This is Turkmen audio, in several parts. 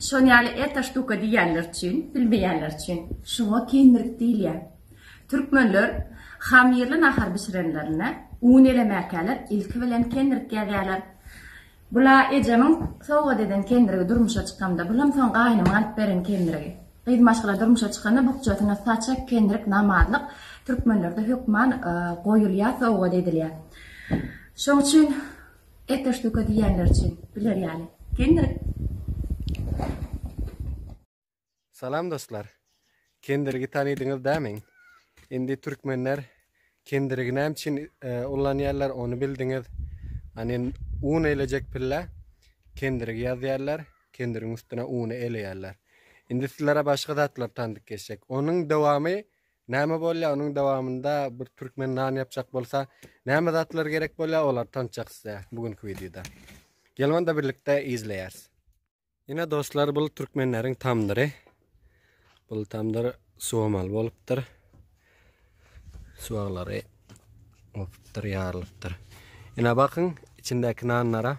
Şol ýaly eta ştuka diýýänler üçin, bilmeýänler üçin, şuňa kendirik diýilýär. Türkmenler hamirli nahar bişirenlerinde un elemäkäler ilki bilen kendirik ýazýarlar. Bula ejemiň sowgat eden kendirigi durmuşa çykamda, bulam soň gaýnymyň alyp beren kendirigi. Gyz maşgala durmuşa çykanda bukjasyna saçak, kendirik, namazlyk türkmenlerde hökman goýulýar, sowgat edilýär. Şoň üçin. Ete ştuka diýýänler üçin, biler ýaly. Kendirik. Salam dostlar. Kendirigi tanydyňyz dä meň. Indi türkmenler kendirigi näme üçin ullanýarlar ony bildiňiz. Hani un elejek pille kendirigi ýazýarlar, kendirigiň üstüne uny eleýärler. Indi sizlere başga zatlar tandyp geçjek. Onuň dowamy Näme bolýa onuň dowamynda bir türkmen nan ýapjak bolsa näme zatlar gerek bolýa olary tançjak size bu günki wideoda. Gelin onda birlikde izleýäris. Ine dostlar bu türkmenleriň tamdyry. Bu tamdyr suwamaly bolupdyr. Suwaglary opupdyr, ýarylypdyr. Ine bakyň içindäki nanlara.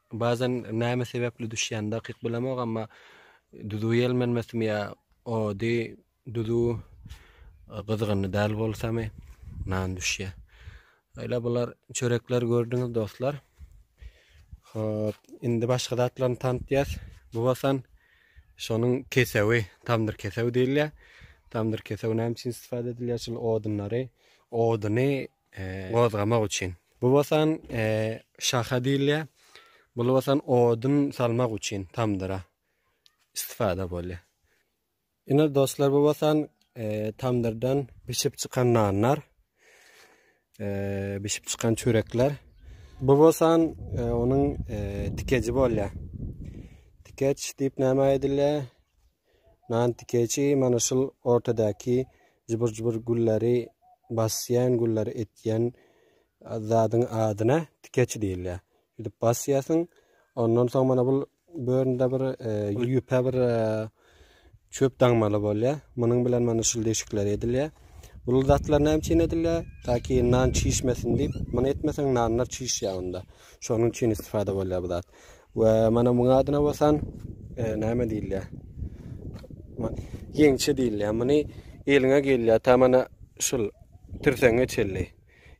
Bazan name sebepli düşýän dakyk bilemok amma duzu ýelmenmesimi ýa ody duzu gyzgynly däl bolsamy nan düşýä. Öyle bular çörekler gördüňiz dostlar. Hop, indi başga zatlaryny tanıtýas. Bu basan şonuň kesewi, tamdyr kesewi diýilýä. Tamdyr kesewi näme üçin istifade edilýär? Şol odunlary, oduny gozgamak üçin. Bu bolsan şaha diýilýär. Bul bolsan odun salmak üçin tamdyra istifada bolýar. Ine dostlar bu bolsan tamdyrdan bişip çykan nanlar. Bişip çykan çörekler. Bu bolsan onuň tikeji bolýar. Tikeç diýip näme aýdylýar? Nant dikeçi mana şul ortadaki jubur jubur gülleri basýan gülleri etýän zadyň adyna dikeçi diýilýär. Şuýdip basýasyň. Ondan soň mana bul böründe bir e, ýüpe bir e, çöp daňmaly bolýar. Munuň bilen mana şul deşikler edilýär. Bul zatlar näme üçin edilýär? Taki nan çişmesin diýip, muny etmeseň nanlar çişýär onda. Şonuň üçin istifada bolýar bu zat. We mana muňa adyna bolsan e, näme diýilýär? Ýeňçe diýilýär. Muny eliňe gelýär. Ta mana şul tirseňe çelli.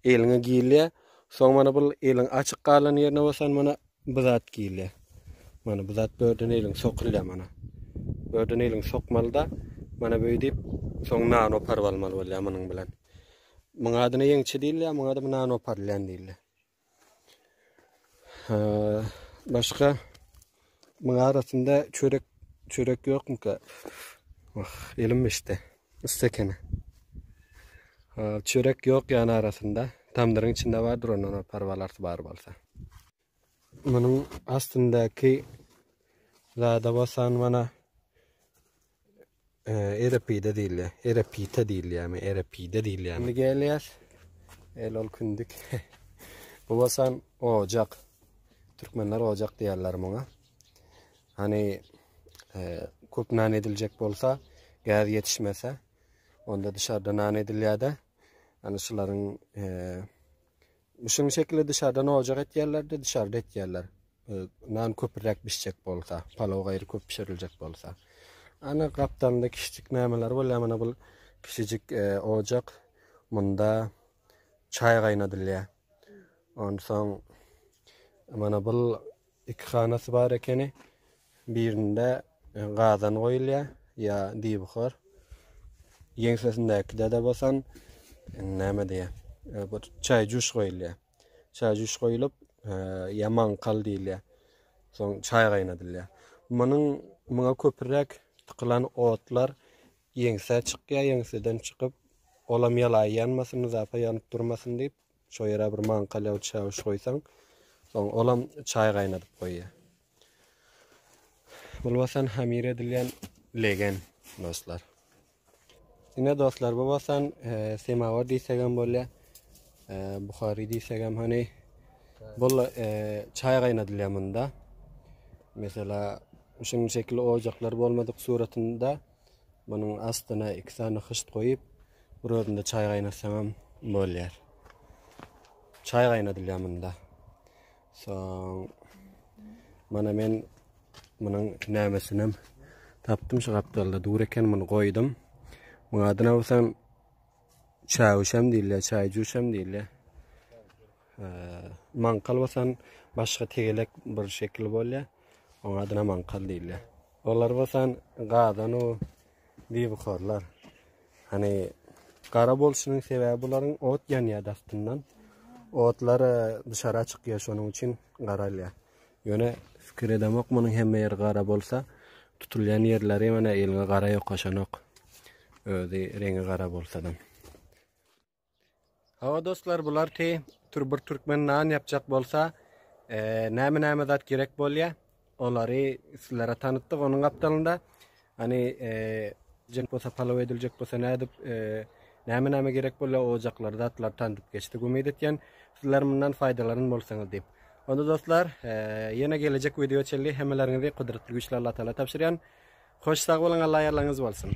Eliňe giýilýär. Soň mana bul eliň açyk galan ýerine bolsan mana bu zat giýilýär. Mana bu zat börden eliň sokulýar mana. Börden eliň sokmalyda mana beýdip soň nan oparyp almaly bolýar munuň bilen. Muňa adyna ýeňçe diýilýär, muňa da nan oparylýan diýilýär. Başga muň arasynda çörek çörek ýokmyka? Wah, elim işte. Ysy ekeni. Çörek ýok ýan arasynda. Tamdyryň içinde bardyr ondan o parwalarsy bar bolsa. Munuň astyndaky zada bolsa mana Erepide diýilýär. Erepite diýilýärmi? Erepide diýilýär. Indi gelýär. El ol kündük. Bu bolsan ojak. Türkmenler ojak diýerler muňa. Hani köp nan ediljek bolsa, gäz ýetişmese, onda dışarda nan edilýär-de. Hani şularyň Şuň şekilli dyşardan ojak etýärlerde dyşarda etýärler. Nan köpräk bişjek bolsa, palaw gaýry köp bişiriljek bolsa. Ana gapdalynda kişijik nämeler bolýar mana bu kişijik e, ojak. Munda çaý gaýnadylýar. Onsoň mana bu Iki hanasy bar ekeni. Birinde e, gazan goýulýar ýa diýbuhar. Ýeňsesindäkide-de bolsan e, näme diýýär? E, bir çaý juş goýulýar. Çaý juş goýulyp, e, ýa maňkal diýilýär. Soň çaý gaýnadylýar. Munuň muňa köpräk tykylan otlar ýeňsä çykýar, ýeňseden çykyp, olam ýalaý ýanmasyn, zapa ýanyp durmasyn diýip, Şo ýere bir maňka lew çäwüş goýsaň, soň olam çaý gaýnadyp goýýar. Bu bolsan hamir edilýän legen dostlar. Ine dostlar, bu bolsan e, semawar diýsek hem bolýar. E, Buhary diýsek hem hani bu e, çaý gaýnadylýar munda. Mesela şunuň şekilli ojaklar bolmadyk suratynda Munuň astyna iki sany hyşt goýup, bir özünde çaý gaýnatsaňam bolýar. Çaý gaýnadylýar munda. Soň mana men munuň nämesinem tapdym şu gapdalda dur eken muny goýdum. Muň adyna bolsam çäwişem diýilýär, çaý juşam diýilýär. Mankal bolsan başga tegelek bir şekil bolýar. Oň adyna mankal diýilýär. Olar bolsan gadanu bibukorlar. Hani gara bolşunyň sebäbi bularyň ot ýanýar dastyndan. Otlar duşara çykýar şonuň üçin garalýar. Ýöne fikir edemok munuň hemme ýeri gara bolsa, tutulýan ýerleri ýöne eliňe gara ýokaşanok. Özi reňi gara bolsadam. Hawa dostlar bular te tur bir türkmen nan yapjak bolsa näme näme zat gerek bolýa olary sizlere tanıtdyk onun gapdalynda hani jek bolsa palaw ediljek bolsa nädip näme näme gerek bolýa ojaklar zatlar tanıdyp geçdik umyt etýän sizler mundan faýdalanyn bolsaňyz diýip onda dostlar ýene gelecek video çelli hemmeleriňizi kudretli güýçli Allah taala tabşyrýan hoş sag boluň Allah ýarlaryňyz bolsun